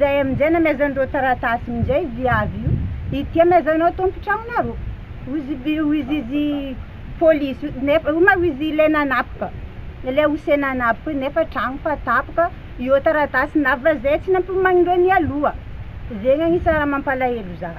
Zay amin'izay namezan'ireo taratasy min'izay viavy io, Ity amezanao tompon-tragnonareo, hoizy polisy nefa io ma hoizy ilay nanapoka, ilay ose nanapoka io nefa tragno fa tapoka, io taratasy nava zay tsy nampihomanin'ireo nialoha, zegny agnisa raha mampalahelo za.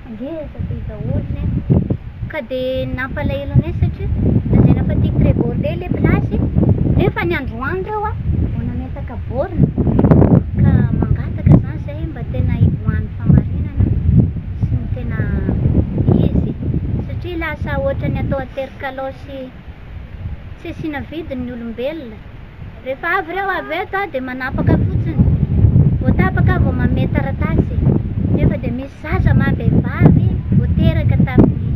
Ngeza be daholo ny ahy. Ka dia nampalahelo ny ahy satria lazaina fa tia très beau be ilay place nefa ny androany ireo a vao nametaka borne ka mangataka izany izahay hoe mba tena hivoahan'ny fahamarinana sy ny tena izy satria lasa ohatran'ny atao aterikalaosy. tsy asiana vidiny ny olombelona, rehefa avy ireo avy eto aho dia manapaka fotsiny, vao tapaka aho vao manome taratasy, nefa dia misy zaza maha vehivavy vao teraka tamin'ny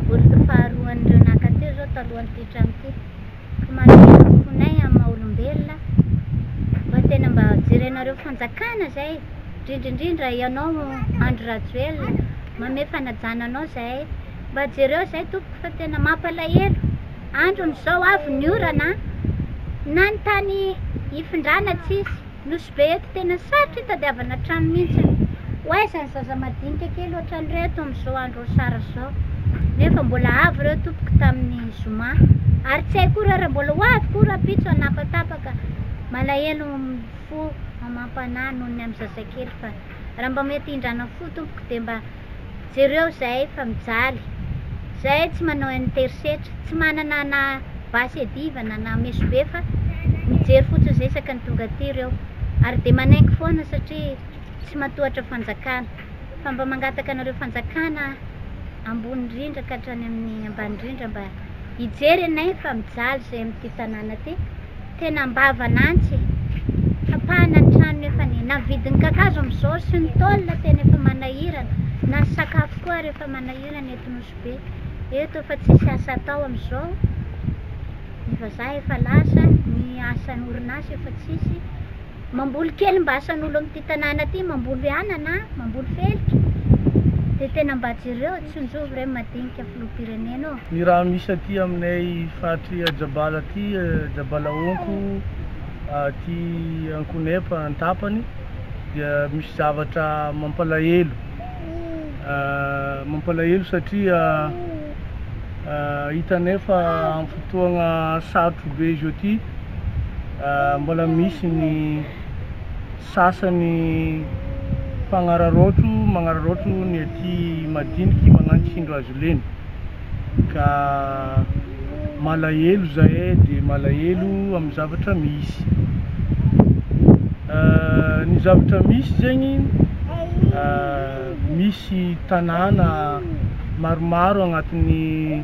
boriky faharoan'ireo naka teo izao talohan'ity trano ity, ka manome ny fonay amin'ny maha olombelona mba tena mba jerenareo fanjakana izay, indrindra indrindra ianao Andry Rajoelina, manome fanajana anao izahay. Mba jereo izay tompoko fa tena mampalahelo, androny izao avy ny orana an, na ny tany hifindrana tsisy, nosy be eto tena sarotra hitadiavana trano mihintsy an, ho aiza ny zaza madinika kely ohatran'ireo eto amin'izao andro asara izao, nefa mbola avo ireo tompoko tamin'ny zoma, ary tsy hay koa ireo raha mbola ho avy koa rahampitso hanapatapaka, malahelo ny fo, mamam-panahy noho ny amin'ny zazakely fa raha mba mety hindrana fo tompoko dia mba. Jereo zay fa mijaly. Zay tsy manao an'ny terisetra, tsy manana na basy iadivana na mesobe fa mijery fotsiny zay isaka ny tonga aty reo. Ary de manenky foana satria tsy matohatra fanjakana. Fa mba mangataka anareo fanjakana ambony indrindra ka hatrany amin'ny ambany indrindra mba hijery anay fa mijaly zay amin'ity tanàna ty. Tena ambava lantsy e! Tapahana ny trano nefa ny na vidin'ny kakazo amin'izao sy ny tôle tena efa manahirana, na ny sakafo koa ary efa manahirana eto Nosy Be. Eto efa tsisy asa atao amin'izao, ny vazaha efa lasa, ny asan'ny orinasa efa tsisy. Mamboly kely mba asan'olo amty tanàna ty mamboly anana, mamboly felika de tena mba jereo tsonjovy re madinika filoham-pirenena ô. Ny rano misy aty aminay faritry Ajabala aty, Ajabala Honko, aty Ankonepa an-tapany dia misy zavatra mampalahelo, mampalahelo satria hitanay fa amin'ny fotoagna sarotro be izao ty, mbola misy ny sasany mpanararaotro manararaotro ny aty madiniky magnano tsindro azy lena ka malahelo zahay de malahelo amin'ny zavatra misy ny zavatra misy zegny misy tanàna maromaro agnatin'ny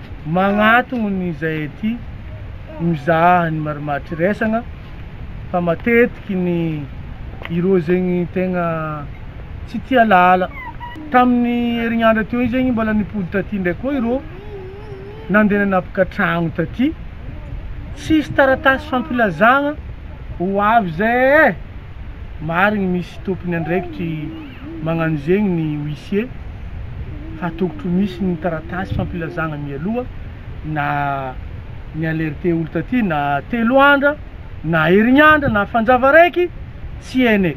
Magnatogno ny izay aty mizaha ny marimaritry resagna fa matetiky ny ireo zegny tegna tsy tia lala. Tamin'ny herignandra teo igny zegny mbola nipody taty ndray koa ireo nandeha nanapaka tragno taty, tsisy taratasy fampilazagna ho avy zay eh! Marigny misy tompony andraikitry. magnano zegny ny huissier hatokotro misy ny taratasy fampilazagna mialoha na ni alerter olo taty na telo andra na herignandra na fanjava raiky tsy ene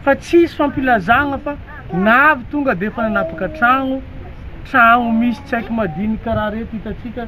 fa tsisy fampilazagna fa na avy tonga defa nanapaka tragno tragno misy tsaiky madiniky karaha reto hitatsika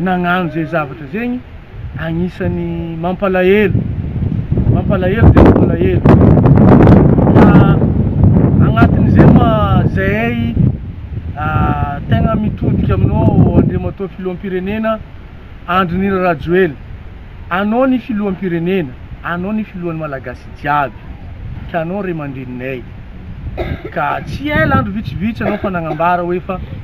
nagnano zay zavatra zay ny agnisany mampalahelo mampalahelo dia mampalahelo agnatin'izay ma zay tegna mitodika aminao Andriamatoa Filoham-pirenena Andry Nirina Rajoely anao ny Filoham-pirenena anao ny Filohan'ny Malagasy jiaby ka anao ray aman-dreninay ka tsy ela andro vitsivitsy anao fa nagnambara hoe fa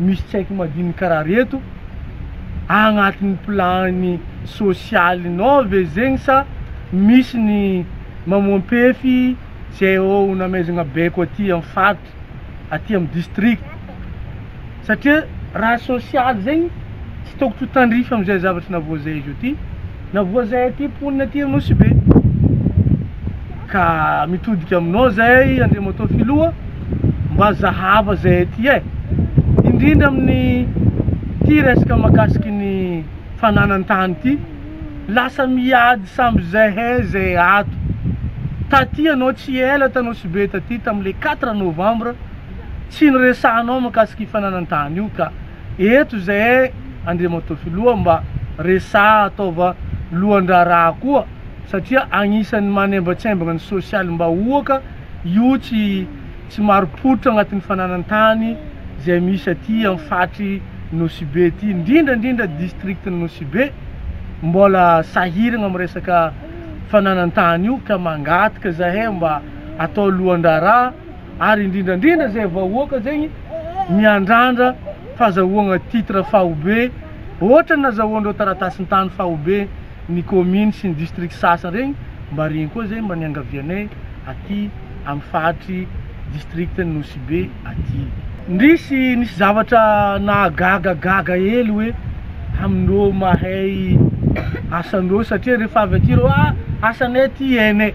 misy tsy haiko madinika raha reto agnatiny plan sosialy nao ve zegny sa misy ny mamoampefy zay ô ho namaizagna baiko aty am faritra aty am district satria raha sosialy zegny Tsy tôkotro ho tandrify amin'izay zavatry na voazaiz o ty na voazay aty mponina aty Anosibe. Ka mitodika aminao zay Andriamatoa Filoha mba zahava zay aty eh. Indrindra amin'ny ty resaka makasiky ny fananan-tany ty. Lasa miady samby zahay zay ato. Taty anao tsy ela t'Anosibe taty tamle quatre novembre tsy niresahanao makasiky i fananan-tany io ka. Eto izay e Andriamatoa Filoha mba resaha ataova lohan-draharaha koa satria agnisan'ny manembatsembagna ny sosialim-bahoaka io tsy tsy marim-pototra agnatin'ny fananan-tany izay misy aty amin'ny faritry Nosibe ity indrindra indrindra districtn'i Nosibe mbola sahiragna amin'ny resaka fananan-tany io ka mangataka zahay mba atao lohan-draharaha ary indrindrandrindra zay vahoaka zegny miandrandra fazahoagna titre faobe otrany nazahoandreo taratasin-tany faobe ny commune sy ny district sasa regny mba regny koa zay mba niangavianay aty am faritry district ny Nosy be aty. Ndrisy nisy zavatra nahagaga gaga hely hoe amindreo mahay asandreo satria refa avy aty reo ah asanay ty ene.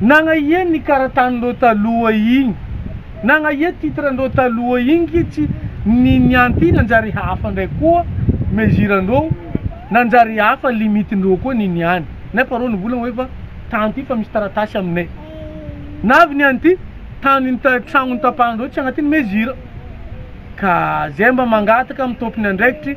Nagnahia ny karatan'ireo taloha igny? Nagnahia titre-ndreo taloha igny kitsy ny nianty nanjary hafa ndray koa mesure-ndreo nanjary hafa limite-ndreo koa ny niany nefa reo nivolagna hoe fa tany ty fa misy taratasy aminay navy nianty tany tragno nitapahandreo tsy agnatiny mesure ka zay mba mangataka amy tompony andraikitry